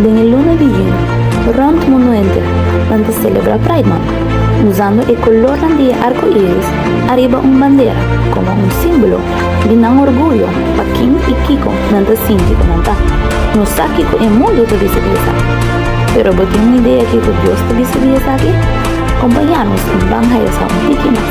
Den e luna di yuni, rònt mundu henter nan ta selebrá Pride Month, usando e kolornan di e arko iris ariba un bandera komo un símbolo di nan orguyo pa ken i kiko nan ta sinti ku nan ta. No sa kiko e mundu ta bisa di esaki, pero bo tin un idea kiko Dios ta bisa di esaki? Acompañanos ban haya sa un tiki mas.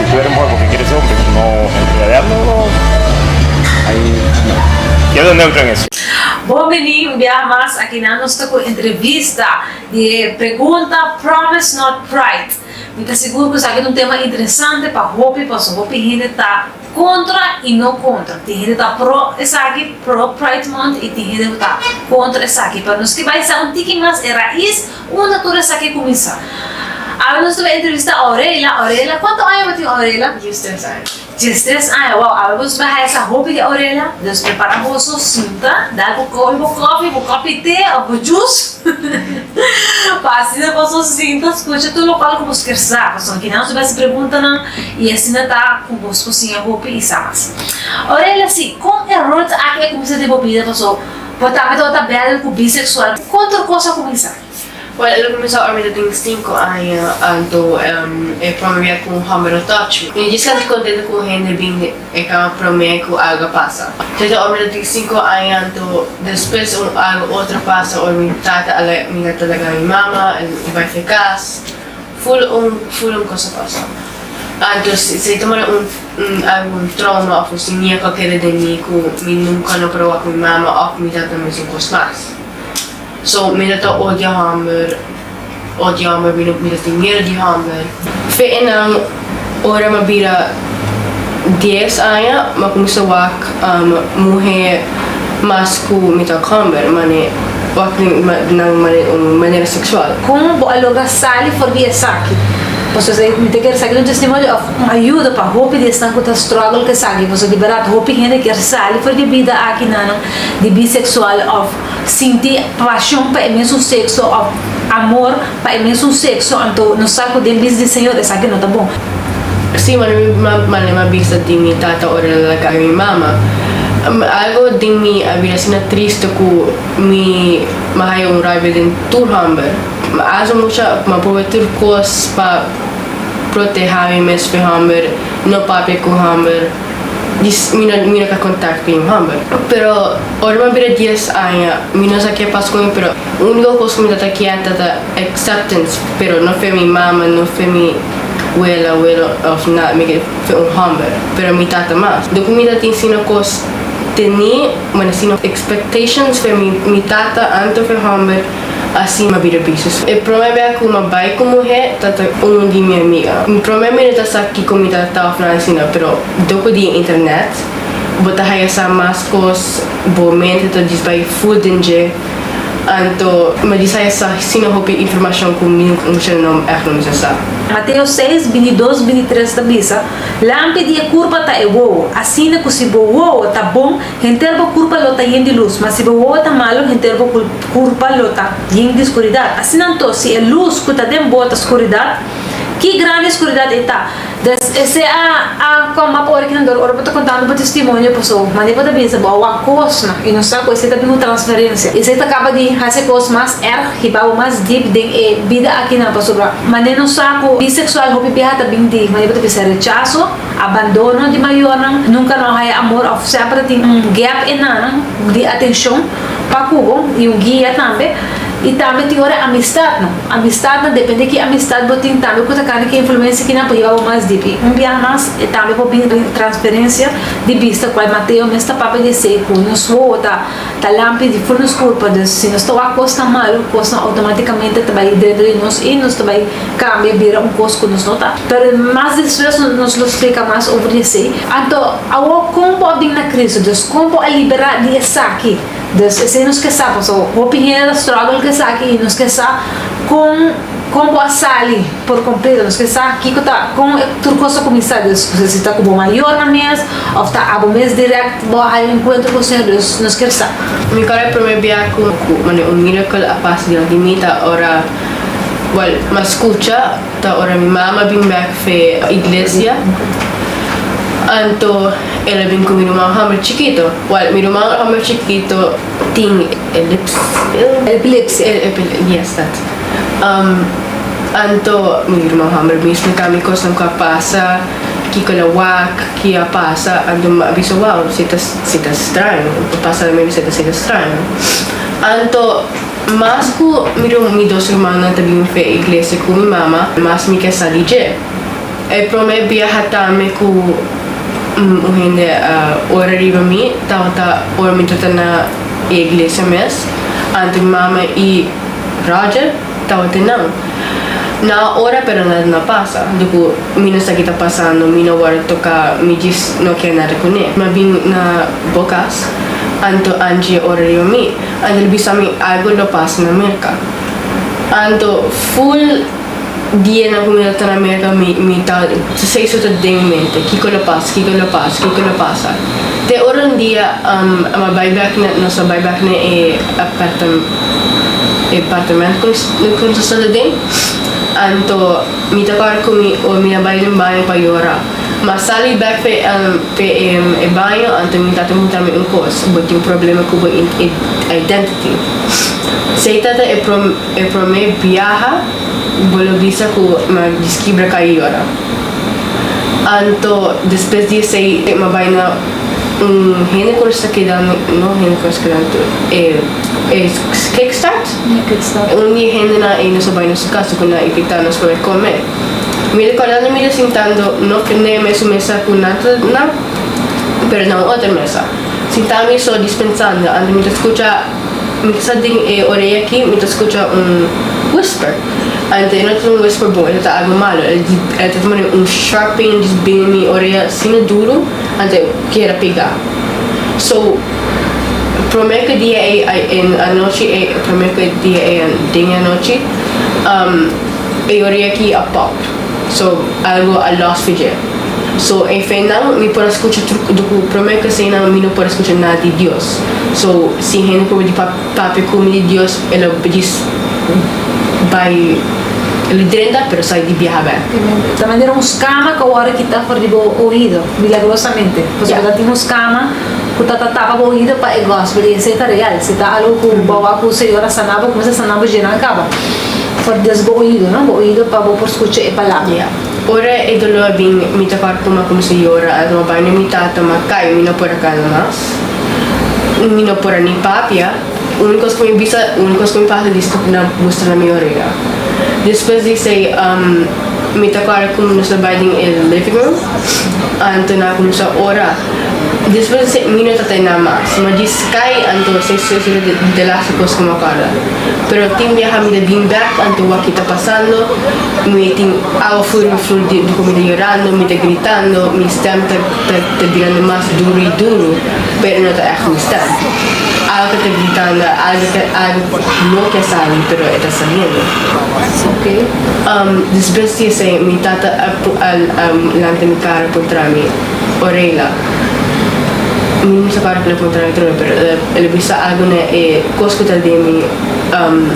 Puede muhé porque quiere ser hombre no embriagar no lo ahí no quiero ser neutro en eso. Bon bini un biaha mas, akinan nos ta ku entrevista di e pregunta Promise Not Pride. Mi ta sigur ku esaki ta un tema interesante pa hopi pasobra hopi hende ta kontra i no kontra. Tin hende ta pro esaki, pro Pride Month, i tin hende ku ta kontra esaki. Pero nos ke bai sa un tiki mas e rais. Unda tur esaki a kuminsá? Awe nos ta bai entrevistá Aurela. Aurela, kuantu aña bo tin Aurela? Dies tres aña. Dies tres aña, wou, awe boso bai haña sa hopi di Aurela. Nos prepará boso, sunta, da bo kopi, bo kofi, bo kopi te òf bo jus, pa asina boso sinta skucha tur lokual ku boso kier sa, pasobra nan kinan nos ta bai hasi preguntanan i asina ta ku boso kosiña hopi i sa mas. Aurela, si, kon eror ta aki a kuminsá den bo bida? Pasobra. Bo tambe ta ota bèl ku biseksual. Ku otro kos a kuminsá? Wel, el a kuminsá ora mi ta tin sinku aña, anto e promé bia ku un hòmber a touch mi. Mi dje sentí kontento ku un hende bin e kama promé ku algu a pasa. Tata ora mi ta tin sinku aña, anto despues un algu otro a pasa ora mi tata a laga mi tata a laga mi mama, el bai fai kas. Full un full un cosa pasa antos esey ta mari un un algun trauma of un siñia cualkiera den mi cu mi nunca no proba cu mi mama of mi tata mes un cos mas so mi no ta odia homber odia homber mi no mi no tin mier di homber. Fe e nan Ora m'a bira dies aña m'a cuminsa wak muhe mas cu mi ta comber, mane wak nan manera sexual. Con bo a logra sali for di esaki? Pasobra sa mi ta kere sa keda un testimonio of un ayuda pa hopi di esnan cu ta struggle cu esaki, pasobra di berdad hopi hende kier sali for di e bida aki nanan di bisexual of. sinti pasion pa e mesun sekso òf amor pa e mesun sekso, anto nos sa ku den bis di Señor esaki no ta bon. Sí, ma mi no a manda nan bisa di mi tata ora nan a laga mi mama. Algo den mi a bira asina triste ku mi mi a haya un rabia den tur hòmber. Mi a haci mucha, mi a proba tur kos pa proteha mi mes p'e hòmber, no papia ku hòmber. di mi no mi no ta contact cu e homber pero ora mi a bira dies aña mi no sa ke pas cu mi pero unico cos cu mi ta ta kier ta ta acceptance pero no fe mi mama no fe mi wela welo of nada mi ke fe un homber pero mi tata mas do cu mi ta tin sino cos teni manera sino expectations fe mi mi tata anto fe homber. a sima bira bisu su. E prome bea ku ma bai ku muhé ta ta un di mi amiga. Mi prome mi no ta sa kiko mi ta ta òf nan asina, pero doko di e internet bo ta haya sa mas kos, bo mente ta disbai full den dje. Anto mi a di sa ya sa asina hopi informashon ku mi mucha nan èf no mester sa. Mateo seis, binti dos, binti tres ta bisa, Lampi di e kurpa ta e wowo. Asina ku si bo wowo ta bon, Henter bo kurpa lo ta yen di lus, ma si bo wowo ta malu, henter bo kurpa lo ta yen di skuridat. Asina anto, si e lus ku ta den bo ta skuridat, ki grandi e skuridat ei ta! Des e sea a kom ap ora ki nan dor, ora bo ta kontando bo testimonio paso, mane bo ta binsa bo a wak kosnan i no sa ku esei ta bin un transferensia. Esei ta kaba di hasi kos mas erg, hiba bo mas dip den e bida akinan, pasobra mane no sa ku biseksual hopi biaha ta bin di mane bo ta bisa rechaso, Abandono di mayornan, Nunka no haya amor òf sèpere tin un gèp enan di atenshon pa ku bo i un guia tambe. I tambe tin ora amistatnan. Amistatnan, depende ki amistat bo tin tambe ku ta kanda ki influensia ki nan por yeba bo mas dip. I un biaha mas e tambe por bin transferensia di bista, kual Mateo mes ta papia di esei ku nos wowo ta. Ta lam pidi por nos culpa, dus si nos ta wak cosnan malu, cosnan automaticamente ta bai drento di nos y nos ta bai cambia bira un cos cu nos no ta. Pero mas di despues nos lo splica mas over di esey. Anto, awo con bo a bin na Cristo? Dus con bo a libera di esaki? Dus esey nos ke sa, pasobra hopi hende ta struggle cu esaki y nos ke sa con con bo a sali. Por completo nos ke sa kiko ta kon e tur kos ta kuminsá, dus si ta ku bo mayornan mes òf ta abo mes dirèkt bo a haña enkuentro ku Señor, dus nos kier sa. Mi kòrda e primer bia ku mane un miracle a pasa dilanti di mi ta ora buen mas skucha ta ora mi mama bin bèk fe iglesia anto el a bin ku mi ruman hòmber chikito buen mi ruman hòmber chikito tin elipsi epilepsia yes dat. Um, anto mi hermano Hammer mismo e cambia cosnan cu a pasa, kico el a wak, ki a pasa, anto mi a bisa, wow, si ta, si ta straño, pa pasa na mi a bisa ta ser straño. Anto, mas cu mi, mi dos hermanonan ta bin fe iglesia cu mi mama, mas mi ke sali dje. E prome biaha tambe cu un hende a ora riba mi, tabata ora mi ta ta na e iglesia mes, anto mi mama i. Roger, Tawatin nan. Na ora pero na na pasa. Di cu mi no sa ki ta pasando, mi no worde toca, mi djis no kier nan recune. Mi a bin na bo cas anto Angie ora riba mi. Angie lo bisa mi algo lo pasa na Merca. Anto full. Dianan cu mi lo ta na America mi mi ta sey su ta den mi mente kico lo pasa kico lo pasa kico lo pasa te ora un dia um ama bay back na nos a bay back na e apartam e apartament cu nos cu nos a sta den anto mi ta core cu mi o mi na bay den baño pa yora ma sali back pe um pe e baño anto mi tata muta mi un cos bo tin problema cu bo identity sey ta ta e prom. E prome biaha bo lo bisa cu ma diskibra ka yora. Anto despues di esey ma bay na un hende cu no sa keda, no hende cu no sa keda anto, e e kickstart, un di e hendenan ey no sa bay na su casa cu nan a invita nos pa bay come. Mi recorda nan mira sintando no na e mesun mesa cu nan ta na pero na un otro mesa. Sinta mi so dispensando anto mi ta scucha. Mi ta sa den e oreya aki mi ta scucha un whisper. Ante e no ta un whisper bon, e no ta algo malo. El el ta tuma den un sharp pain di bini mi oreya asina duro ante e kier a pega. So, promer ke dia ei a e anochi ei promer ke dia ei den e anochi e oreya aki a pop. So algo a lost fu dje. So e fe nan mi por a skucha tru do ku promé kase nan mi no por a skucha nada di Dios. So si hende proba di papia ku mi di Dios e lo di bai e lo drenta pero sai di biaha bek. Ta manera un skama ku awor a kita for di bo oido milagrosamente. Pasobra ta tin un skama ku ta ta tapa bo oido pa e gòspel i esei ta real. Si ta algo ku bo a wak ku señor a sana bo, kuminsa sana bo dje nan kaba. Fordes bo oido, no? Bo oido pa bo por scucha e palabra. Ora e dolor a bin, mi ta bar coma cuminsa yora. A roba ne mi tata, ma cay, mi no por a cana mas. Mi no por a ni papia. Un cos cu mi bisa, un cos cu mi fasi di stop na mustra na mi orea. Despues di esey, mi ta corda como nos a bay den e living room, anto nan a cuminsa ora. Despues di esey, mi no ta ta e nan mas. Ma di sky, anto esey, esey ta di e laster cos cu mi a corda. Pero tin mi a hamida bin bek antoa ki ta pasando, mi tin awa fur mi flur di boka mi ta yorando, mi ta gritando, mi stem ta ta birando mas duru y duru pero no ta echt mi stem. Algo ta gritando, algo ta algo no ke sali pero e ta saliendo. Despues di esei mi tata a a lanta mi cara puntra mi, Orela, Mi no sa para p'e puntra na troe, pero el a bisa algu na e kos ku ta den mi um,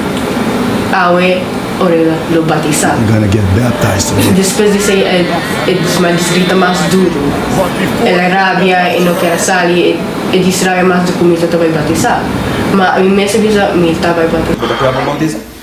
awe ora el lo batisá. You're gonna get baptized today. Despues di esei el e disma di grita mas duru. El a rabia, e no kier a sali, e e disrabia mas di ku mi ta ta bai batisá. Ma mi mes a bisa mi ta bai batisá. Bo ta prueba bautisa?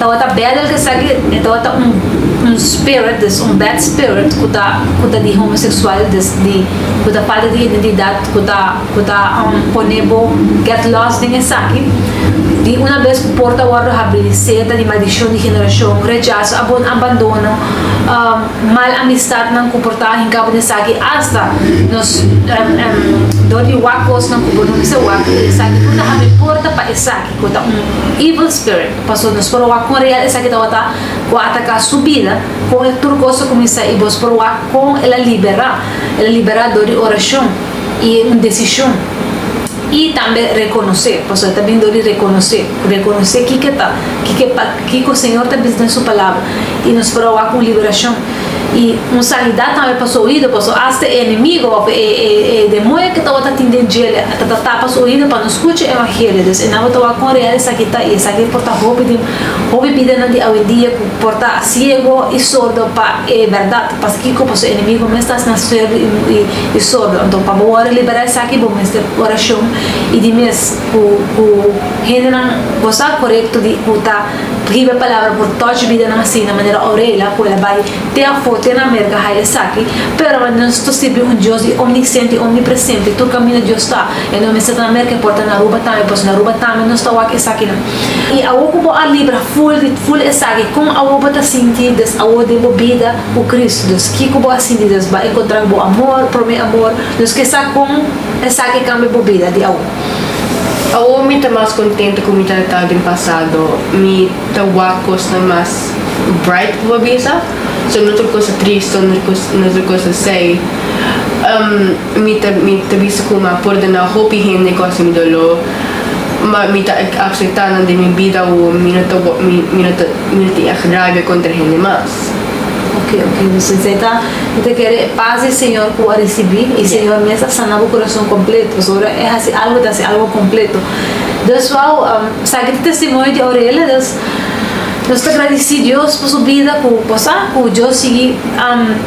Tabata bèl el kesegi e tabata un un spirit des un bad spirit ku ta ku ta di homoseksual des di ku ta falta di identidat ku ta ku ta um, pone bo get lost den esaki di una bes ku por ta wòrdu habilisé ta di maldishon di generashon rechaso abon abandono um mal amistatnan ku por ta hinká bo den esaki asta nos dor di wak kosnan ku bo no mester wak esaki por ta habri porta pa esaki. Cu ta un evil spirit. Pasobra nos por wak con real esaki tabata cu a ataca su bida, con e tur cos a cuminsa y bos por wak con el a libera. El a libera door di oracion y un decision y tambe reconoce, pasobra ta bin door di reconoce, reconoce kico ta, kico e Señor ta bisa den su Palabra y nos por a wak un liberacion. y un sanidad tambe pa su oido paso hasta e enemigo of e e e demoe ke tabata tin den djele ta ta tapa su oido pa no scucha evangelio dus e nan bo ta wak con real esaki ta y esaki por ta hopi den hopi bidanan di awendia cu por ta ciego y sordo pa e berdad pasobra kico paso e enemigo mes ta asina ciego y sordo enton pa bo worde libera esaki bo mester oracion y di mes cu cu hendenan bo sa corecto di cu ta Riba e palabra por touch bidanan asina manera Aurela cu el a bay te afo te na America haya esaki, pero manera nos ta sirbi un Dios di omnisciente y omnipresente tur camino Dios ta, e no mester ta na America e por ta na Aruba tambe pasobra na Aruba tambe nos ta wak esakinan. Y awo cu bo a libra full di full esaki con awo bo ta sinti des awo den bo bida cu Cristo dus kico bo a sinti dus bo a encontra cu bo amor prome amor nos ke sa con esaki cambia bo bida di awo. Awor mi ta mas kontente ku mi ta ta den pasado. Mi ta wak kosnan mas bright, ku bo a bisa. So no tur kos ta trist, so no no tur kos ta sei. Um, mi ta mi ta bisa ku mi a pordona hopi hende kos di mi doló. Ma mi ta akseptá nan den mi bida awor. Mi no ta mi no ta mi no tin ègt raibia kontra hende mas. Oke, oke, mi sinsé ta. Bo ta kere e pas di Señor cu bo a ricibi, y Señor mes a sana bo corazon completo. Pasobra ora e haci algo, e ta haci algo completo. Dus, wou, sa aki ta e testimonio di Aurele. Dus, nos ta gradici Dios pa su bida, cu bo sa, cu Dios sigui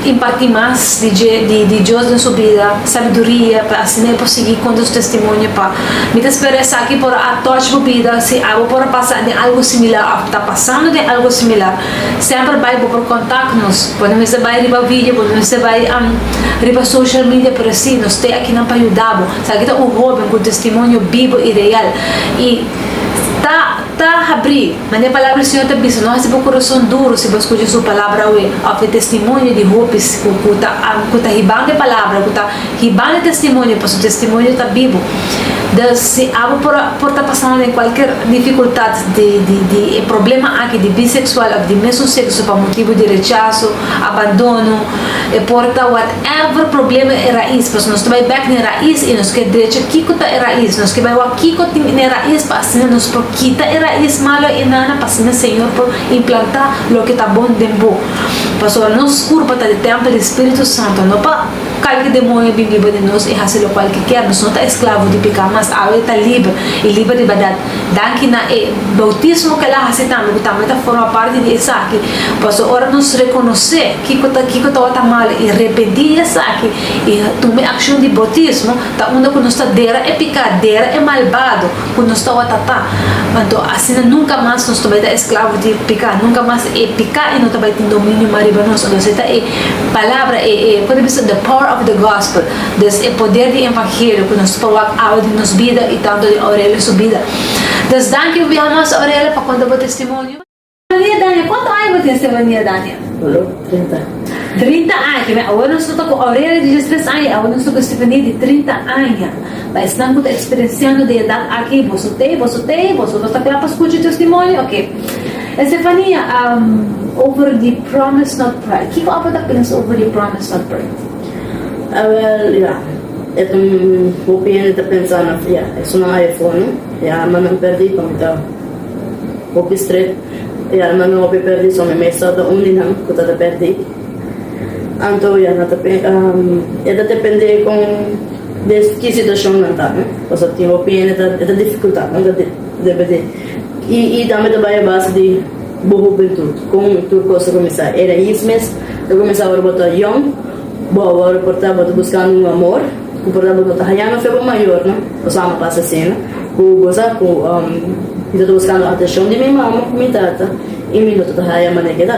imparti mas di dje, di Dios den su bida, sabiduria, pa asina e por sigui conta su testimonio. Pa, mi ta spera esaki por a touch bo bida, si abo por a pasa den algo similar, of ta pasando den algo similar. Semper bai bo por contact nos bo no mester bai riba video bo no mester bai riba social media pero si nos te akinan pa yuda bo sa aki ta un hoben cu un testimonio bibo y real y ta ta habri manera palabra di Señor ta bisa no haci bo corazon duro si bo a scucha su palabra awe of e testimonio di hopis cu cu ta hiban de palabra cu ta Hibá na e testimonio, pa su testimonio ta bibu. Dus, si abo por ta pasando den cualkier dificultad di e problema aki di biseksual of di mesun sekso pa motibu di rechaso, abandono, e por ta whatever problema e rais, pasobra nos ta bai bek na e rais y nos ke drecha kiko ta e rais, nos ke bai wak kiko tin na e rais pa asina nos por kita e rais malo enan pa asina Señor por implanta loke ta bon den bo. Pasobra nos curpa ta di templo di Spiritu Santo, no pa. Kalki demonio bin riba di nos i hasi lokual ki kier. Nos no ta esklavo di peká, mas awe ta liber, i liber riba dat. Danki na e boutismo kela hasi tambe ku tambe ta forma parti di esaki. Paso ora nos rekonosé kiko ta kiko tabata malu i repentí di esaki i tuma e akshon di boutismo, ta unda ku nos ta dera e peká, dera e malbado ku nos tabata ta. Anto asina nunka mas nos no bai ta esklavo di peká, nunka mas e peká i no ta bai tin dominio mas riba nos. Anto esei ta e. Palabra e e por ta bisa the power of the gospel des e poder di evangelio cu nos por wak awe den nos bida y tanto den Aurelia su bida des danki un biaha mas Aurelia pa conta bo testimonio. Stevania Dania cuanto aña bo tin Stevania Dania? Olo trinta. Trinta aña kibe awor nos no ta cu Aurelia di dies tres aña y awor nos ta cu Stevania di trinta aña pa esnan cu ta experienciando den edad aki boso tey boso tey boso no ta cla pa scucha e testimonio oke. Estefania, Um, over di promise not pride. Kiko Apo ta pensa over di promise not pride? Awel, ya, e ta, hopi hende ta pensa na, ya, esun a haya for, no? E alma nan perdi pa mi ta hopi stret. E alma nan hopi perdi, so mi mester ta un di nan ku ta ta perdi. Anto, ya, nan ta pen, um, e ta depende kon des ki situashon nan ta, no? Pasobra tin hopi hende ta, e ta difikultat, nan ta di. Debede. I i tambe ta bai a base di bo hubentut, kon tur kos ta kuminsá. E rais mes ta kuminsá ora bo ta yòn, bo a wòrdu por ta bo ta buskando un amor ku por ta bo no ta hañando afia bo mayornan, pasobra amo a pasa asina, ku bo sa ku mi ta buskando atenshon di mi mama ku mi tata i mi no ta haya mane keda.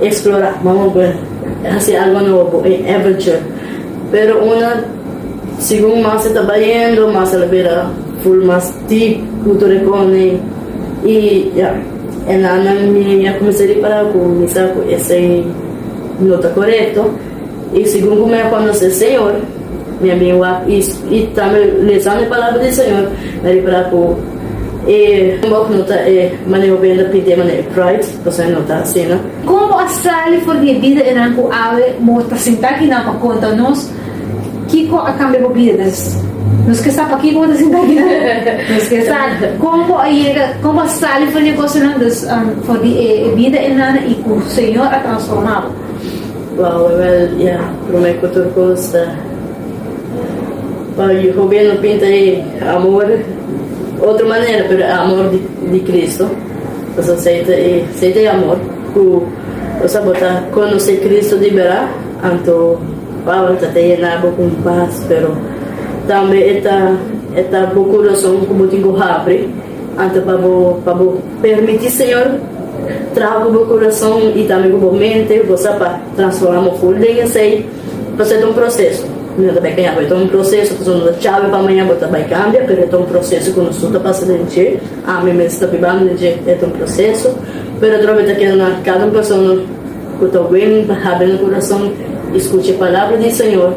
Explora, mama bo e hasi algo nobo bo e adventure pero una segun mas e ta bayendo mas el a bira full mas deep cu tur e conen y ya e nannan mi a cuminsa ripara cu mi sa cu esey no ta corecto y segun cu mi a conoce e Señor mi a bin wak y tambe lezando e palabra di Señor mi a ripara cu e bok no ta e maneho benda pinte maneho pride. Pasá e nota asina. Kon bo a sali for di e bida enan ku awe bo ta sintá aki nan pa konta nos kiko a kambia bo bida? Des nos ke sa pakiko bo ta sintá aki nan. Nos ke sa kon bo a yega, kon bo a sali for di e kosanan, des for di e bida enan i ku Señor a transformá bo. Wou e wel ya promé ku tur kos ta pa hopi no pinta e amor otro manera pero e amor di Cristo. Nos acepta e sey di amor cu nos a bo ta conoce Cristo di bera, anto paula ta ta yena bo con paz, pero tambe e ta e ta bo corazon cu bo tin cu habri, anto pa bo pa bo permiti Señor traha cu bo corazon y tambe cu bo mente, bo sa pa transforma bo full den e sey. Pasobra e ta un proseso. Nos ta bai kaña bo. E ta un proseso. Pasobra no ta chabe pa maña bo ta bai kambia, pero e ta un proseso ku nos tur ta pasa den dje. Ami mes ta bib'an den dje. E ta un proseso. Pero atrobe ta keda na kada un persona ku ta wen pa habri nan kurason i skucha e palabra di Señor.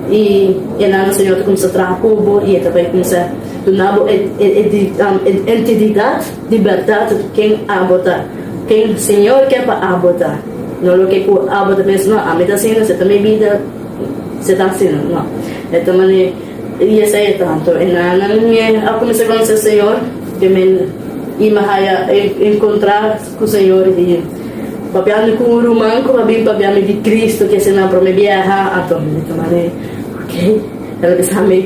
I e nan Señor ta kuminsá traha ku bo i e ta bai kuminsá duna bo e e e entididad. Di bèrdat ken abo ta? Ken Señor ke pa abo ta? No loke ku abo ta pensa, no, ami ta asina, se ta mi bida, se ta asina. No. E ta mane, i esei e tantu e nannan mi a kuminsá konosé Señor, ke mi i mi a haya e enkontrá ku Señor. I papia mi ku un ruman ku a bin papia mi di Kristu, ke esei nan promé biaha. Anto mi ta mane, Ok, el a bisa mi.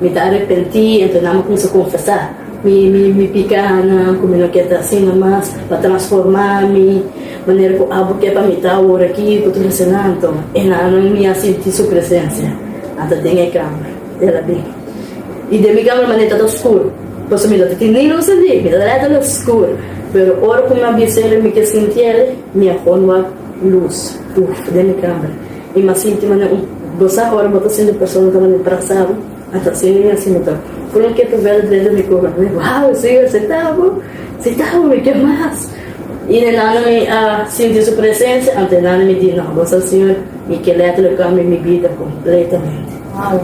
Mi ta arepentí, anto nan mi kumsa konfesá. Mi, mi, mi piká nan ku mi no ke ta asina mas, pa transformá mi manera ku abo ke pa mi ta awor akí i ku tur esenan. Anto e nannan mi a sinti su presensia a ta den e kambio el a bin. I den mi kambio manera ta ta oskur, pasobra mi no ta tin ningun saliv, mi ta rèta na skur, pero ora ku mi a bisa el i mi ke sinti el, mi a konda lus, uf, den mi kambio. I mas sinti manera un gosá ora bo ta siña un persona ta manera trazado, ata siña mi asina ta. Kunda mi ke ta bel dren di mi kor, mi bai, Wao, e siña así ta bo? Sí ta bo, mi ke mas. I nenana mi a sinti su presensia, ante nenana mi di, No, bo sa siña, mi ke lèt lo kambia mi bida kompletamente. Wao,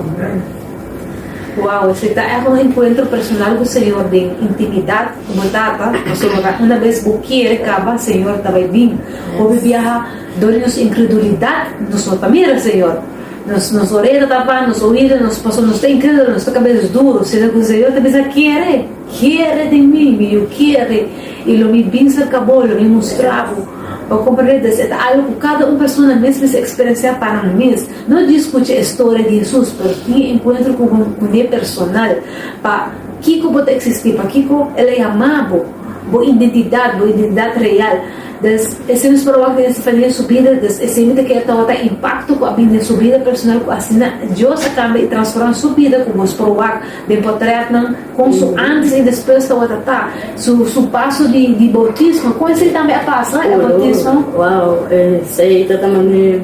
wao, esei ta èk un enkuentro personal ku Señor den intimidat ku bo Tata, pasobra una bes bo kere kaba, Señor ta bai bin. Bo bai biaha. Dor di nos inkredulidat nos no ta mira, Señor. Nos nos orea ta tapa, nos oido nos paso, nos ta inkredulo, nos ta kabes duro. Sina ku Señor ta bisa, Kere, kere di mi, mi yu kere, i lo mi bin serka bo, lo mi mustra bo. Bo komprende? Des e ta algu ku kada un persona mes mester eksperensiá pa nan mes. No dje skucha e storia di Hesus, pero tin e enkuentro ku bo kuné personal. Pa kiko bo ta eksistí? Pakiko El a yama bo? Bo identidat, bo identidat real. Des esei nos por wak den e stefania subida, des esei mi ta kere ta wak impakto ku a bini den su bida personal, ku asina Dios a kambia i transforma su bida, ku boso por wak den potretnan kon su antes i despues tabata ta, su su paso di di boutismo, kon esei tambe a pasa, e boutismo. Wow, esei ta ta mane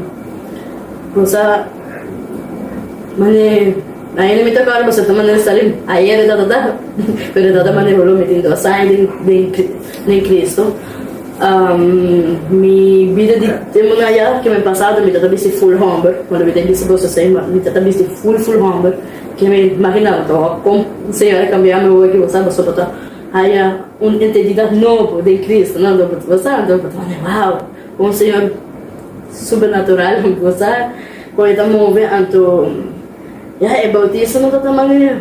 kusa, mane ainda mi ta akorda boso ta mane sa den ayer e tabata ta, pero e tabata mane holo mi tin dos aña den den den Kristu. Mi bida di e manga ya ke mi pasa mi ta ta bisti full homber cuando mi ta bisti cos así mi ta ta bisti full full homber ke mi imaginaba ta wak con un señor a cambiaami e wordje basa pasobra bo ta haya un entendida nobo den Cristo no lo bo ta basa enton bo ta wak wow con un señor super natural mi ta basa con e ta move anto ya e bautismo no ta ta manera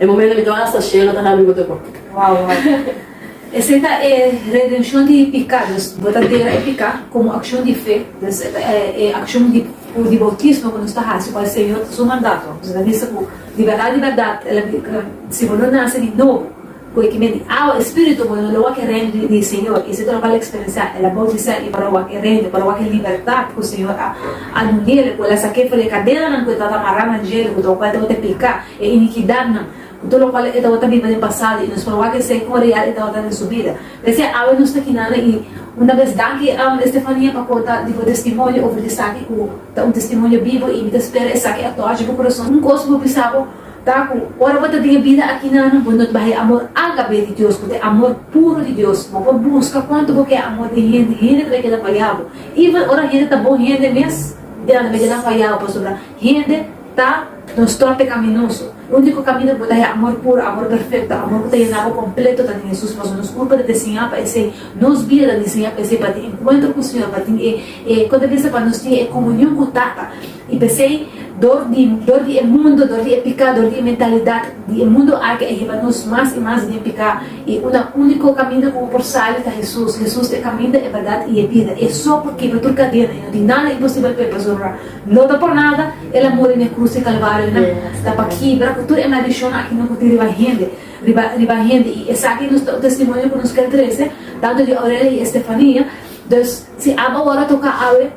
E momento mi tabata hasta shela ta habi bo tokon. Wow wow. Esei ta e redenshon di piká, dus bo ta dera e piká komo akshon di fe, dus e ta e akshon di di boutismo ku nos ta hasi ku el Señor ta su mandato, nos ta bisa ku di bèrdat di bèrdat el a di ka si bo no nase di nobo ku e ki mindi awa i spiritu bo no lo wak e reino di di Señor, i esei ta loke al a eksperensiá, el a boutisá i para wak e reino, para wak e libertat ku Señor a a dun'é, ku el a sak'é for di e kadenanan ku e tabata amará nan djela ku tabata kual tabata e piká. e inikidatnan, ku tur lokual e tabata biba den pasado, i nos por wak esei kon real e tabata den su bida. P'esei awe nos ta kinannan, i una bes danki Estefania pa konta di bo testimonio over esaki ku ta un testimonio bibo, i mi ta spera esaki a tòchi bo kurason. Un kos ku bo bisa bo ta ku ora bo ta den e bida aki nan, bo no ta baha e amor alta be di Dios, ku ta e amor puru di Dios. Bo por buska kuantu bo ke e amor den hende, hende ta bai keda faya bo, even ora hende ta bon hende mes, bo ta keda faya bo, pasobra hende Ta nos torte caminoso. Unico camino di bo ta e amor puro, amor perfecto, amor cu ta yena bo completo ta den Jesús, pasobra nos culpa ta desiña pa esey, nos bida ta desiña pa esey, pa tin encuentro cu Señor, pa tin e e con ta bisa pa nos tin e comunion cu Tata. Y pesey dor di dor di e mundo, dor di e pica, dor di e mentalidad di e mundo aki a yeba nos mas y mas den pica. Y un a unico camino cu bo por sali ta Jesús. Jesús ta e caminda, e verdad y e bida. E so por kebra tur cadena y no tin nada imposibel pa e pasobra, No ta por nada el a muri n'e cruz di Calvario nan, ta pa kibra cu tur e maldicionnan akinon cu tin riba hende, riba, riba hende, y esaki nos ta un testimonio cu nos kier trece, tanto di Aurelia y Estefania, dus si abo awor toca awe,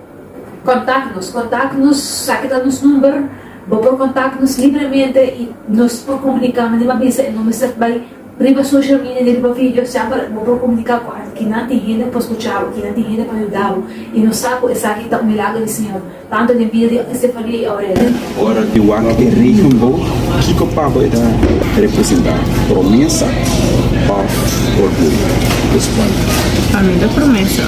contact nos, contact nos, saki ta nos number, bo por contact nos libremente y nos por comunica, mandi bo a bisa y no mester bay. Riba social media ni riba video semper bo por comunica cu anto kinan tin hende pa scucha bo, kinan tin hende pa yuda bo. Y nos sa cu esaki ta un milagro di Señor, tanto den bida di Estefania y Aurelia. Ora e wak e rigen bo, kico pa bo e ta representa, promesa of orguyo? Responde. Pa mi ta promesa.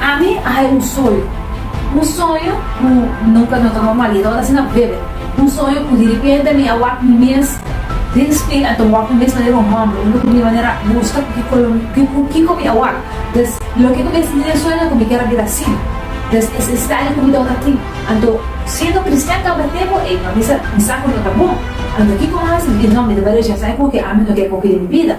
Ami a hay un soño, un soño cu no ka no ta normal y ta wak asina bebe, un soño cu di repente mi a wak mi mes den spiejo, a ta wak mi mes manera un homber, un loco mi manera a busca cu kico lo mi cu kico mi a wak, des loke cu mi a sinti den sueño cu mi kier a bira asina, des es estadio cu mi ta wak aki, anto siendo cristian caba tempo ey, ma mi sa cu no ta bon, anto kico mi a haci? Mi di no, mi debe rechasa e porque ami no kier coge den mi bida.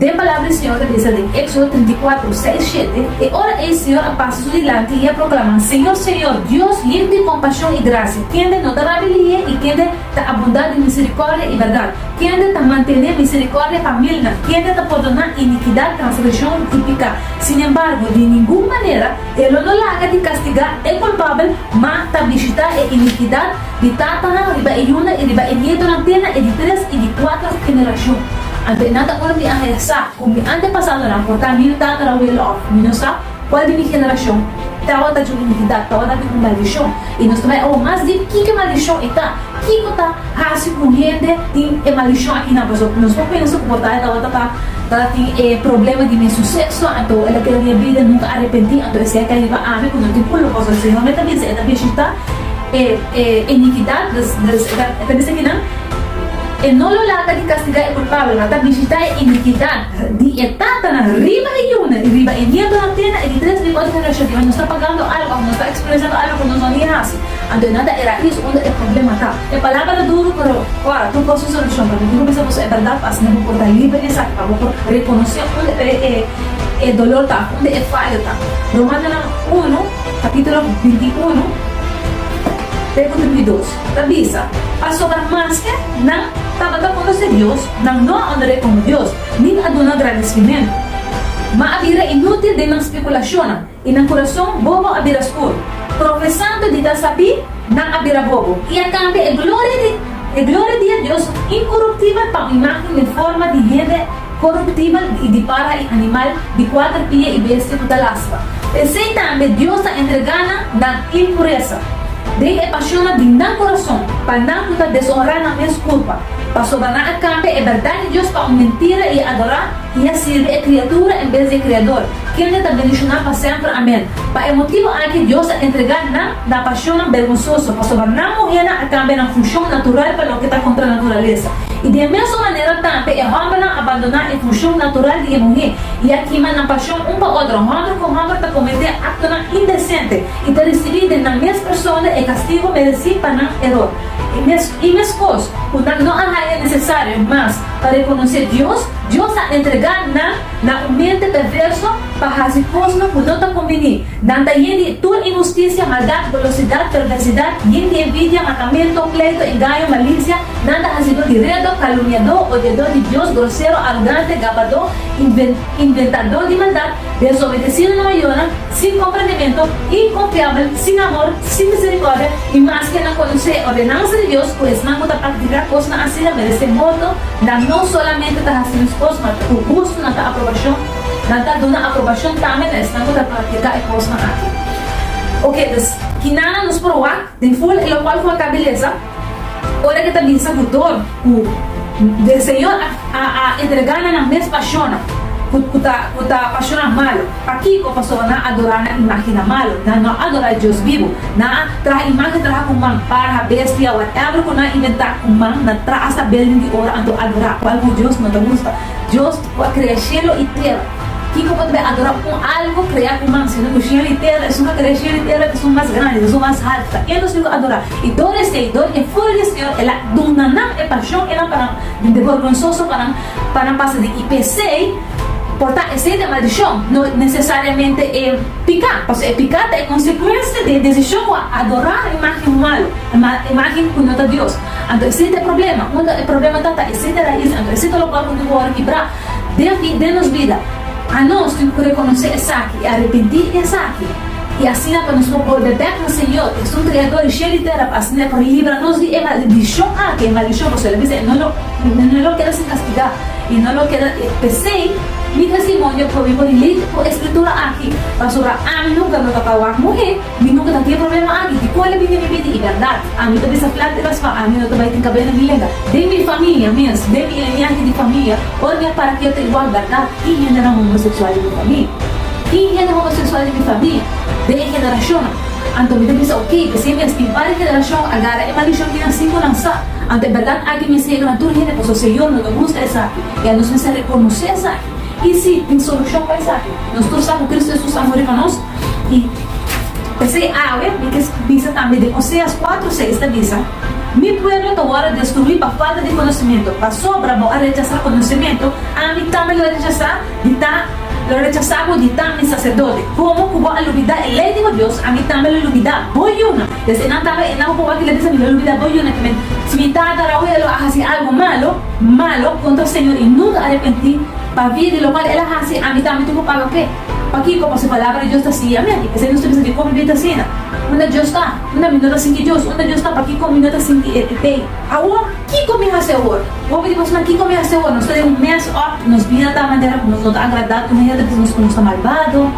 Den palabra di Señor ta bisa den Exodo trinta i kuater, seis, shete, E ora ei Señor a pasa su dilanti i a proclama, Señor, Señor, Dios limp di compasion i gracia, kende no ta rabi liye i kende ta abunda den misericordia i berdad, kende ta mantene misericordia pa milnan, kende ta pordona iniquidad, transgresion i pica. Sin embargo, di ningun manera E lo no laga di castiga e culpabel, ma ta bishita e iniquidad, di tatanan riba e yunan i riba e nietonan te na e di tres i di kuater generashon. Anto e nan ta ora mi a regresa, kon mi antepasadonan por ta mi tatarabuelo òf mi no sa kual di mi generashon tabata cu inikidat, tabata cu un maldishon. I nos ta bai awo mas dip kiko maldishon i ta, kiko ta hasi ku hende tin e maldishon aki nan. Pasobra ku nos por pensa ku por tabata tabata ta ta tin e problema di mes su sekso, anto el a keda di a bida nunka arepentí, anto esei a kai riba ami ku no tin kulpa, pasobra Señor mi ta bisa, e ta bishita. E inikidat ta bisa kinan? E no lo laga di kastigá e kulpabel, ma ta bishitá e inikidat di e tatanan riba e yunan i riba e nietonan te na e di tres di e kuatro generashon. Kiba nos ta pagando algu òf nos ta eksperensiando algu ku nos no tin hasi? Anto e nan ta e rais unda e problema ta. E palabra ta duru, pero ora bo por su solushon. Pero mi quiero bisa boso e bèrdat pa asina bo por ta liber di esaki, pa bo por rekonosé unda e dolor ta, unda e fayo ta. Romannan unu. Capítulo binti unu, pregunta número dos, ta bisa, Pasobra maske nan tabata konosé Dios, nan no a onor'é komo Dios, nin a dun'A grandisimentu. Má a bira inútil den nan spekulashonnan, i nan kurason bobo a bira skur. Profesando di ta sabí. Nan a bira bobo i a kambia e gloria di e gloria di e Dios inkoruptibel pa un imágen den forma di hende koruptibel i di para i animal di kuater pia i bestia ku ta lastra. P'esei tambe Dios ta entregá nan nan impuresa den e pashonnan di nan kurason pa nan ku ta desonrá nan mes kurpa, pasobra nan a kambia e bèrdat di Dios pa un mentira i a adorá I a sirbi e kriatura en bes di e Kreador, kende ta bendishoná pa semper. Amèn. Pa e motibu aki Dios a entregá nan na pashonnan bergonsoso, pasobra nan muhénan a kambia nan funshon natural pa loke ta kontra naturalesa. I di e mesun manera tambe e hòmbernan a bandoná e funshon natural di e muhé i a kima nan pashon un pa otro. Hòmber ku hòmber ta kometé aktonan indesente i ta risibí den nan mes persona e kastigu meresí pa nan eror. I mes kos ku nan no a haña nesesario mas. Pa rekonosé Dios, Dios a entregá nan na un mente perverso pa hasi kosnan ku no ta kombiní. Nan ta yen di tur inhustisia, maldat, golosidat, perversidat, yen di envidia, matamentu, pleito, engaño, malisia, nan ta hasidó di redo, kalumniadó, odiadó di Dios, grosero, arogante, gabadó, inventadó di maldat, desobedesido na mayornan, Sin komprendementu, inkonfiabel, sin amor, sin miserikòrdia, i mas ke nan konosé e ordenansa di Dios ku esnan ku ta praktiká kosnan asina meresé morto, nan no solamente ta hasi nos kos ma ku gustu nan ta aprobashon, nan ta duna aprobashon tambe na esnan ku ta praktiká e kosnan aki. Oke, dus, kinan nos por wak den ful i lokual ku a ta belesa? Ora ke ta bin sa ku dor, ku den Señor a entrega na nan mes pashonan ku ta ku ta pashonan malu. Pakiko? Pasobra nan a adorá nan imágennan malu, nan no a adorá e Dios bibu. Nan a traha imágen traha ku man, parha, bestia, whatever ku nan a inventá ku man, nan traha sa belden di oro anto adorá, kual ku Dios no ta gusta. Dios ku a krea shelu i tera. Kiko por ta bay adora un algo crea cu man, sino cu cielo y tera? Esun a crea cielo y tera cu son mas grandi, cu son mas haltu. Ta e nos tin cu adora. Y dor di esey, dor di e furia di e Señor, el a duna nan e pasion enan pa nan, di borgonsoso pa nan, pa nan pasa di. Y pesey por ta esey ta maldicion, no necesariamente e pica, pasobra e pica ta e consecuencia di e decision cu a adora imagen malu, imagen cu no ta Dios. Anto esey ta e problema. Unda e problema ta, ta esey ta raiz. Anto esey ta lobaal cu tin cu wòrdu kibra. Den aki, den nos bida, anos tin ku rekonosé esaki i arepentí di esaki, i asina pa nos por bolbe bèk na Señor, ku es un Kreadó di shel i tera, pa asina e por libra nos di e maldishon aki, e maldishon ku su lo bisa, no lo keda sin kastigá, i no lo keda. P'esei, mi testimonio probi por lei ku e Skritura aki, pasobra ami nunka no ta tawá muhé. Mi nunka ta tin e problema aki. Di kua el a bini mi bida? I berdad, ami ta bisa plat depas pa ami no ta bai tin kabel na mi lenga, den mi famia mes, den mi linianti di famia, ora mi a para kil ta igual berdad i hendenan homoseksual di mi famia. I hende homoseksual di mi famia, den e generashonnan. Anto mi ta bisa oke, p'esei mes tin par di generashon a gara e malishon di nan si ku nan sa. Anto e berdad aki mi a siga na tur hende, pasobra Señor no ta gusta esaki i anos mester rekonosé esaki. I si tin solushon pa esaki, nos tur sa ku Kristu Hesus a muri pa nos. I p'esei awe mi kier bisa tambe den Oseas kuatro seis ta bisa, Mi pueblo ta wòrdu destruí pa falta di konosementu, pasobra bo a rechasá konosementu, ami tambe lo rechasá di ta lo rechasá bo di ta mi saserdote. Komo ku bo a lubidá e lei di bo Dios, ami tambe lo lubidá bo yuna. Desde esnan tambe e nan ku wak el a bisa mi lo lubidá bo yuna tambe. Si mi tata Raúel lo a hasi algu malu malu kontra Señor i nunka a arepentí pabia di lokual el a hasi, ami tambe tin ku paga p'e. Pakiko? Pasobra e palabra di Dios ta siña mi aki. P'esei nos ta bisa di, Kon mi ta asina? Unda Dios ta? Unda mi no ta sinti Dios? Unda Dios ta, pakiko mi no ta sinti E ta pei? Awor, kiko mi hasi awor? Hopi di boso na kiko mi hasi awor? Nos ta den un mess up. Nos bida ta manera ku nos no ta agradá ku hende ta bisa nos ku nos ta malbado.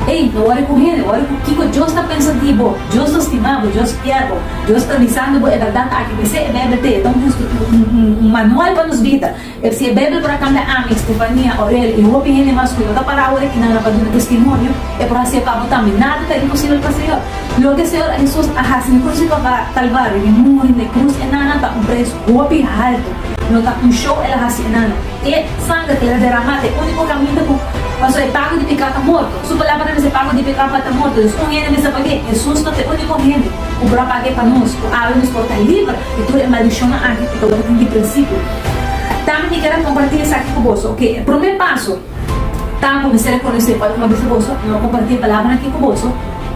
Ey, no wòri ku hende, wòri ku kiko Dios ta pensa di bo. Dios ta stima bo, Dios kier bo, Dios ta bisando bo e bèrdat aki. P'esei e Beibel ta e ta un manual pa nos bida. E si e Beibel por a kambia ami, Stefania, Aurel i hopi hende mas ku no ta para awor aki nan a pa duna testimonio, e por hasi e pa bo tambe. Nada ta imposibel pa Señor. Loke e Señor Hesus a hasi mi konosi papá Kalvario, mi muri n'e krus enana ta un pres hopi haltu, no ta un show el a hasi enana. E sanger ku el a deramá ta e úniko kaminda ku paso e pago di peká ta morto. Su palabra ta mester pago di peká pa ta morto. Entonces un hende mester pag'é. Hesus no ta e úniko hende ku por a pag'é pa nos, ku abra nos por ta liber di tur e maldishonnan aki ku ta wòrdu tin di prinsipio. Tambe mi keda kompartí esaki ku boso, oke. E promé paso ta ku mester rekonosé ora ku no bisa boso, no a kompartí e palabranan akí ku boso,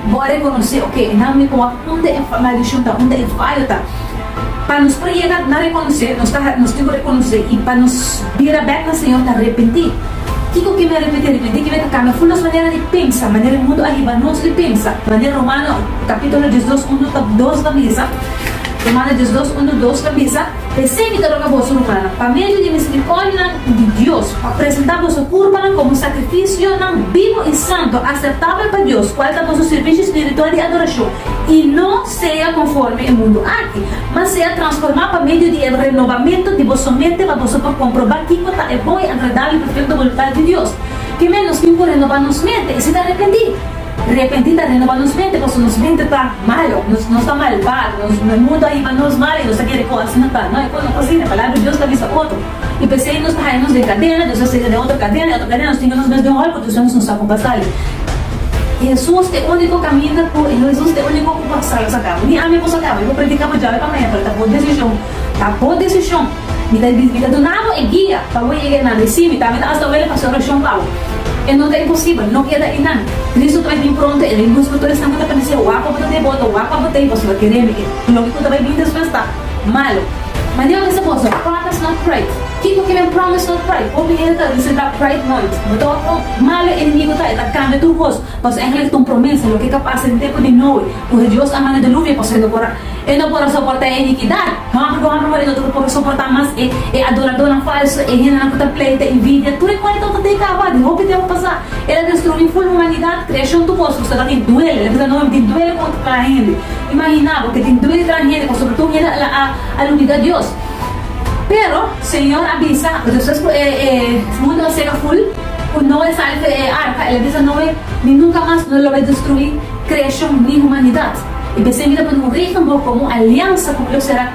bo a rekonosé, oke, nan mi por wak unda e maldishon ta, unda e fallo ta. Pa nos por yega na rekonosé, nos ta nos tin ku rekonosé i pa nos bira bèk na Señor ta arepentí. Kiko ke mi a repentí? Arepentí ke mi ta kambia ful nos manera di pensa, manera e mundu a hiba nos di pensa, manera Romano kapitulo dies dos unu ta dos ta bisa, Romano dies dos unu dos ta bisa, Esei mi ta roga boso, rumannan, pa medio di miserikòrdianan di Dios, pa presentá boso kurpanan komo sakrifisionan bibu i santu, aseptabel pa Dios, kual ta boso sirbishi spiritual di adorashon, i no sea konforme e mundu aki, mas sea transformá pa medio di e renobamentu di bo somente, pa boso por komprobá kiko ta e bon i agradabel i perfekto boluntat di Dios. Kemé nos tin ku renobá nos mente i si ta arepentí? Repenti ta renoba nos mente pasobra nos mente ta malo, nos ta malbado, nos mundu a hiba nos mal i nos ta kere ku asina ta. No, e kos no ta asina. Palabra di Dios ta bisa otro. I p'esei nos ta haya nos den kadena, Dios a sega den otro kadena, i otro kadena nos tinga nos mes den hòl ku Dios wens nos no sa kon pa sali. Hesus e úniko kaminda ku Hesus e úniko ku por sal nos a kaba. Ni ami por sal kaba. I por predika bo djave p'amaya, pero ta bo desishon. Ta bo desishon. Mi ta di, Mi ta duna bo e guia pa bo yega einan. I sí, mi tambe ta hasta wele pa haci oracion pa bo. E no ta imposibel. No keda einan. Cristo ta bai bini pronto. El a lus pa tur esnan cu ta parecia wak pa bo ta devoto, wak pa bo ta hiba, suma kere mi. E loke cu ta bai bini despues ta malo. Ma Dios bisa boso, Promise not pride. Kiko ki nan promise not pride? Hopi hende ta reserba pride nònt. Bo ta wak cuan malo e enemigo ta. E ta cambia tur cos. Pasobra e haña un promesa, loke e ta basa den tempu di Noe, cu Dios a manda deluvio pa sue no por a, e no por a soporta e iniquidad. Hopi ku hopi pone otro por soportá mas e e adoradónan falsu, e hendenan ku ta pleita, invidia, tur e kuento ta tei kaba. Den hopi tempu pasá el a destruí ful humanidat, kreashon tu kos ku sta ta tin duele. Lembra ta noe mi tin duele ku otro kla hende. Imaginá bo ke tin duele tra hende ku sobretou hende a la a lubidá Dios. Pero Señor a bisa despues ku e e mundu a seka ful, ku Noe sali ku e arka, el a bisa Noe, Mi nunka mas lo lo bai destruí kreashon ni humanidat. I p'esei mi ta pone un regel bo komo aliansa ku mi lo sera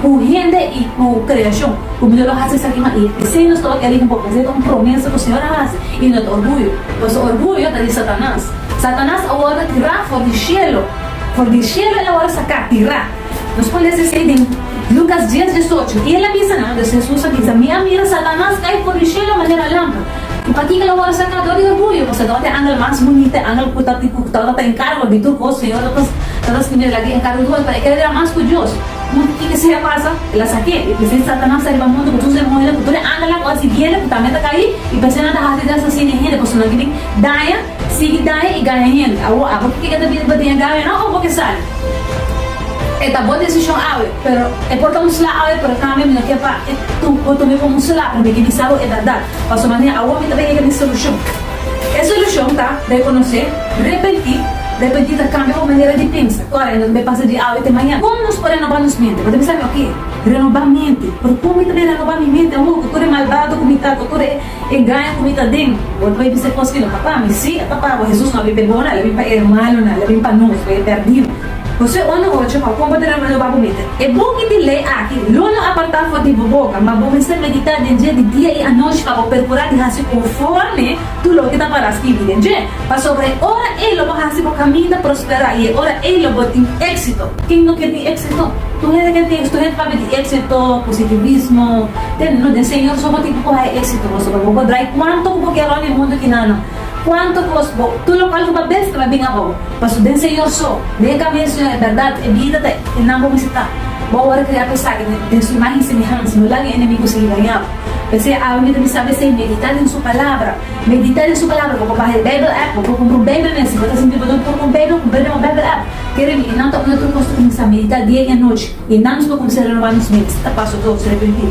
ku hende i ku kreashon, ku mi no lo hasi esaki mas. I esei nos tabata elige bo, pasobra esei ta un promesa ku Señor a hasi i no ta orguyo, pasobra orguyo ta di Satanas. Satanas awor ta tirá for di shelu, for di shelu el awor a saká, tirá. Nos por lesa esei den Lukas dies diesocho. I el a bisa nan, Hesus a bisa, mi a mira Satanas kai for di shelu manera lampa. I pakica lo worde sacador di orguyo? Pasobra tabata e angel mas bunita, e angel cu tabata ta encargo di tur cos. Señor tabata scribiendo lag'e encargo dura pa e kere bira mas cu Dios. Punto kico sigue a pasa? El a saqu'e. I p'esei Satanas ta riba mundu cu tur su demonionan, cu tur e angelnan cu a siguiel cu tambe ta cai, i p'esei nan ta haci den asasina e hende, pasobra nan kier daña. Sigui daña y gaña hende. Awor, abo kico ta bida pa diña gaña no o bo ke sali? E ta bo decision awe, pero e por ta un sla awe, pero tambe mi no kier pa e bo tuma como un sla pasobra mi ke bisa bo e berdad. Paso manera awor mi ta bay hega mi solucion. E solucion ta reconoce, repenti, repenti ta cambia bo manera di pensa, core, no ta bay pasa di awe te mañana. Como nos por renoba nos mente? Bo ta bisa mi, ok, renoba mente, pero como mi ta bay renoba mi mente awor cu tur e malbado cu mi ta, cu tur e. Engaño ku mi ta den. Bo no bai bisa kos ku i no ta pa mi. Sí, e ta pa bo. Hesus no a bin pa e boda, e bin pa e rumannan, e bin pa nos, pa e pèrdido. José unda oca pa kon bo ta reuní lo ba bo mete. E boki di lei aki lo no apartá for di bo boka, ma bo mester meditá den dje di dia i anochi pa bo perkurá di hasi konforme tur loke ta pará skirbí den dje, pasobra e ora ei lo bo hasi bo kaminda prosperá i e ora ei lo bo tin éksito. Ken no ke tin éksito? Tur hende ke teksto hende papia di éksito, positivismo, den no den Señor so bo tin ku haña éksito boso bo bo por drai kuanto ku bo kier ora e mundu ki na nan kuanto kos bo tur lokal ku bo a bes ta bin abou paso den Señor so den e kaminda di Señor e bèrdat e bida ta e nan bo mester ta bo a wòrdu kriá pa esaki den su imágen i semehansa no laga e enemigu sigui daña bo p'esei a mi ta bisa bo esei meditá den su palabra meditá den su palabra bo por baha e beibel app bo por kumpra un beibel mester bo ta sinti bo no por kumpra un beibel kumpra den un beibel app. Kere di nan ta un atro kos kuminsá a meditá dia i anochi, i nan nos por kuminsá renobá nos mente. Ta paso dos, Repentí.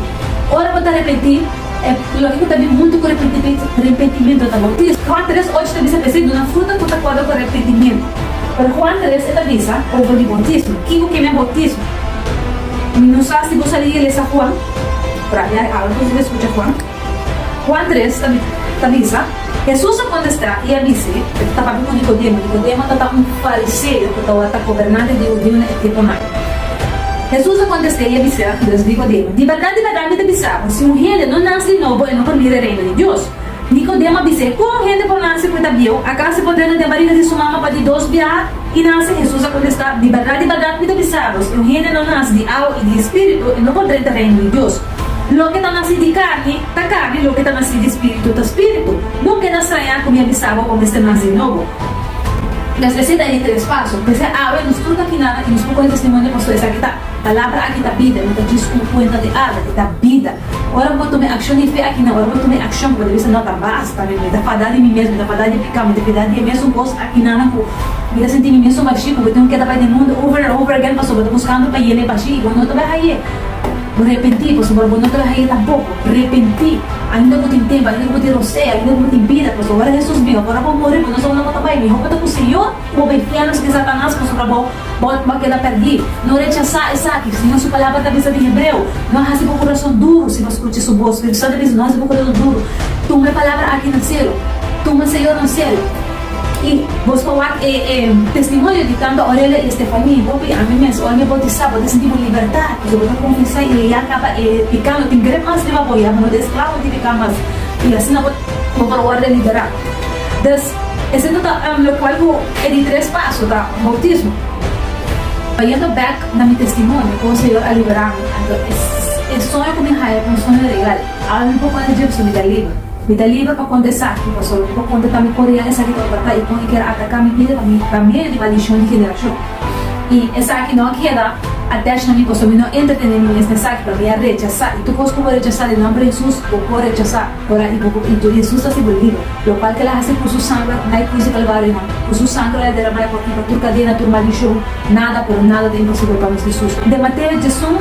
Ora bo ta repentí, e loke ku ta bin huntu ku repentimentu ta boutismo. Juan tres ocho ta bisa p'esei, Duna fruta ku ta akorda ku repentimentu. Pero Juan tres e ta bisa over di boutismo. Kiko ke mia boutismo? Mi no sa si bo sa di iglesia Juan, pero a mi a algu ku ta eskucha Juan. Juan tres ta bisa, Hesus a kontestá i a bis'é, E ta papia ku Nikodemo. Nikodemo tabata un fariseo ku tabata gobernante di hudiu na e tiempunan. Hesus a kontest'é i a bis'é, Andres, Nikodemo, di bèrdat, di bèrdat mi ta bisa bo, si un hende no nase di nobo, e no por mira e reino di Dios. Nikodemo a bis'é, Kon un hende por nase ku e ta bieu? Akas e por drenta den bariga di su mama pa di dos biaha i nase? Hesus a kontestá, Di bèrdat, di bèrdat mi ta bisa bo, si un hende no nase di awa i di Spiritu, e no por drenta reino di Dios. Loke ta masí di karni ta karni, loke ta masí di spiritu ta spiritu. No keda strañá ku mi a bisa bo bo mester nase nobo. Nos mester ta entre es paso. Desde awe nos tur ta kinada i nos por kore testimonio pasobra esaki ta, Palabra aki ta bida, no ta djis ku bo kuenta di algu, e ta bida. Ora ku bo tuma e akshon di fe aki nan, ora ku bo tuma e akshon ku bo ta bisa no, ta basta mi, mi ta fadá di mi mes, mi ta fadá di piká, mi ta fidá di e mesun kos aki nan nan ku mi ta sinti mi mesun bashí ku bo tengu keda bai den mundu over and over again pasobra bo ta buskando pa yena e bashí i bo no ta bai hay'é. Bo repentí, pasobra bo no ta laga e tampoko. Repentí! Ainda bo tin tempu, ainda bo tin rosé, ainda bo tin bida, pasobra ora Hesus bin, ora bo muri, bo no sa unda bo ta bai. Mihó pa ta ku Señor ku bo bai fiel mas ke Satanas, pasobra bo bo a keda pèrdí. No rechasá esaki, sino su palabra ta bisa den hebreo, No a hasi bo kurason duru si bo a skucha su bos. Spiritu Santu a bisa, No hasi bo kurason duru. Tuma e palabra aki na selu. Tuma Señor na selu. I bos por wak e testimonio di tantu Aurelia i Stephanie, bo i ami mes. Ora mi a boutisá, bo ta sinti bo libertá. Pasobra bo ta kuminsá i leá kaba e piká. No tin gret mas riba bo ya. Bo no ta esklavo di piká mas. I asina bo por wòrdu liberá. Dus, esei ta lokual ku e di tres paso ta boutismo. Bayendo bèk na mi testimonio, kon Señor a liberá mi. Anto e soño ku mi haña ta un soño real. Awe mi por konta dje pasobra mi ta liber. Mi ta liber pa konta esaki, pasobra mi por konta tambe por riba esaki ta trata i kon e kier ataka mi bida pa medio di maldishon di generashon. I esaki no a keda atach na mi, pasobra mi no entretene mi mes na esaki, pero mi a rechasá. I tur kos ku bo rechasá den nòmber di Hesus, bo por rechasá ora i bo por i Hesus ta hasi bo liber. Lokual ke el a hasi ku su sangre na e krus di Kalvario nan. Ku su sangre el a deramá e por kiba tur kadena, tur maldishon. Nada, pero nada ta imposibel pa nos Hesus. Den Mateo dje-sun.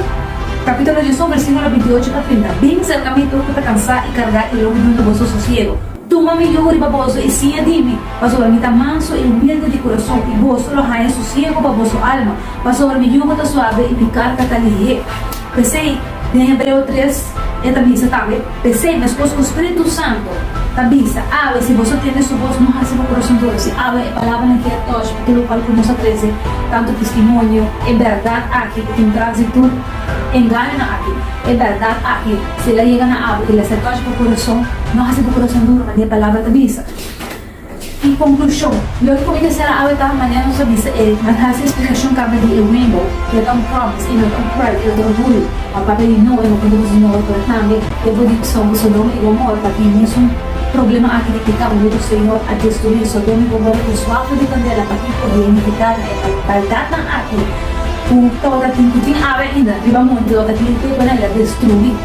Capítulo Jesús, versículo binti-ocho ta pinta, Bin cerca mi tur cu ta cansá i cargá, i lo mi duna boso sosiego. Tuma mi yugu riba boso i siña di mi, pasobra mi ta manso i humilde di curason, i boso lo haña sosiego pa boso alma, pasobra mi yugu ta suave i mi carga ta lihé. P'esei, den Hebreo tres, e ta bisa tambe, P'esei meskos ku Spiritu Santu ta bisa, Awe, si boso tende su bos, no hasi bo kurason duru. Si awe e palabranan ke a tòsh atu lokal ku nos a trese tantu testimonio, e bèrdat aki ku tin tras di tur engañonan aki, e bèrdat aki, si el a yega na awe i el a ser tòsh pa kurason, no hasi bo kurason duru, manera e palabra ta bisa. I konklushon, lo e komite sera awe ta manera nos a bisa e manera si splikashon kaba di e Rainbow, lo ta un promise i no ta un prueba i no ta orguyo, pa papia di no e no konta kosa nobo pero tambe e bo di Sodom i Gomor pa tin mesun problema aki di pika unda di Señor a destrui Sodom i Gomor ku un swafo di kandela pa tin por identifiká na e maldatnan aki ku ta ora tin ku tin awe ainda riba monte ora tin e tempu nan el a destruí.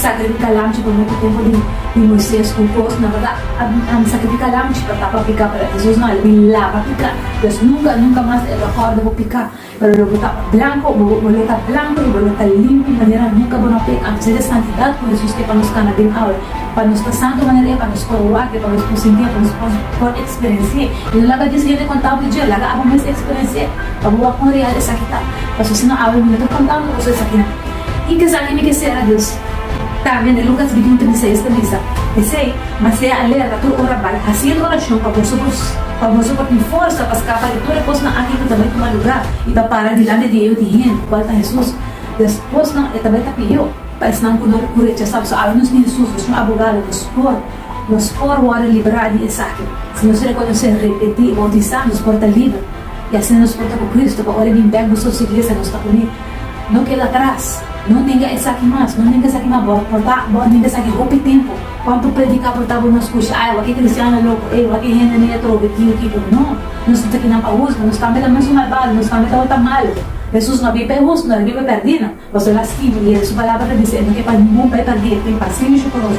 Sacrifica lamchi pa mutu tempo di Moises cu Jos na bata a bin sacrifica lamchi pa tapa pica para Hesus no a bin laba pica pues nunca nunca mas e lo a horda bo pica pero lo bo ta blanco bo bo lo ta blanco y bo lo ta limpi manera nunca bo no a peca anto esey e santidad cu Hesus ke pa nos cana den awe pa nos ta santo manera e pa nos por wak e pa nos por sinti e pa nos por por experenciae y no laga dies hende contado di dje laga abo mes experenciae pa bo wak cuan real esaki ta pasobra si no awe mi no ta contado cu coso esaki na. I kesaki mi ke sera Dios ta mende lugas di punta mi seis ta misa. P'esei, m'a sea alerta tur ora bai hasiendo orashon pa boso kos, pa boso por tin forsa pa skapa di tur e kosnan aki ku ta bai tuma lugar i pa para dilanti di e otu hende, kual ta Hesus. Despuesnan e ta bai ta pidió pa esnan ku lo ku rechasá, pasobra awe nos tin Hesus, nos un abogado, nos por nos por wòrdu liberá di esaki. Si nos rekonosé, repetí i boutisá, nos por ta liber. I asina nos por ta ku Kristu, pa ora e bin bèk boso su iglesia nos ta uní. No keda atras, no nenga esaki mas, no nenga esaki mas, bo a porta, bo a nenga esaki hopi tempu, cuanto predica por ta bo no scucha, ay wak e cristiano loco, ey wak e hende nen atrobe ki o kico, no, nos no ta aki nan pa huzga, nos tambe ta manso malbado, nos tambe ta hota malo, Hesus no a bin pa e huzga, no a bin pa e perdina, pasobra e lastima, y Hesus palabra ta bizi, e no ke pa ningun bay perdi, e tin paciencia cu nos.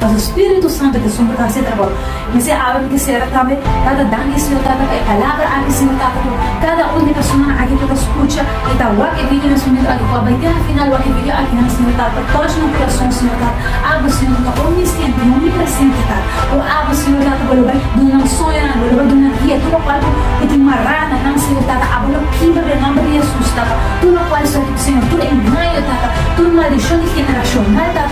Pa su spiritu santu ta sumber ta haci e trabou. Mester abra mi te cera tambe. Tata, danki Señor Tata pa e palabra aki Señor Tata cu cada un di persona aki por ta scucha y ta wak e video na su momento adecuado. Bai den na final wak e video aki nan Señor Tata pa touch nan curason Señor Tata. Abra Señor Tata omnisciente y omnipresente Tata. Cu abra Señor Tata bo lo bai duna nan soñonan, bo lo bai duna guia tur locual cu cu tin mara na nan Señor Tata aba lo kibra den nomber di Jesus Tata. Tur locual Señor tur engaño Tata, tur maldicion di generacional Tata.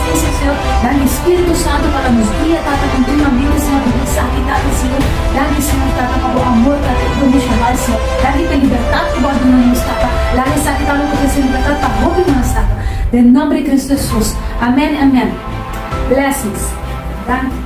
Ezekiel, Dan di Spiritu Santu pa nan nos guia, Tata, continuamente, Señor, di bisa aki, Tata, Señor, Dan di, Señor, Tata, pa Bo amor, Tata, incondicional, Señor, Dan di pa e libertad cu Bo a duna nos, Tata, Laga esaki, Tata, lo cu ta hasi libertad pa hopi mas, Tata, den nomber di Cristo Jesus. Amen, amen. Blessings. Danki.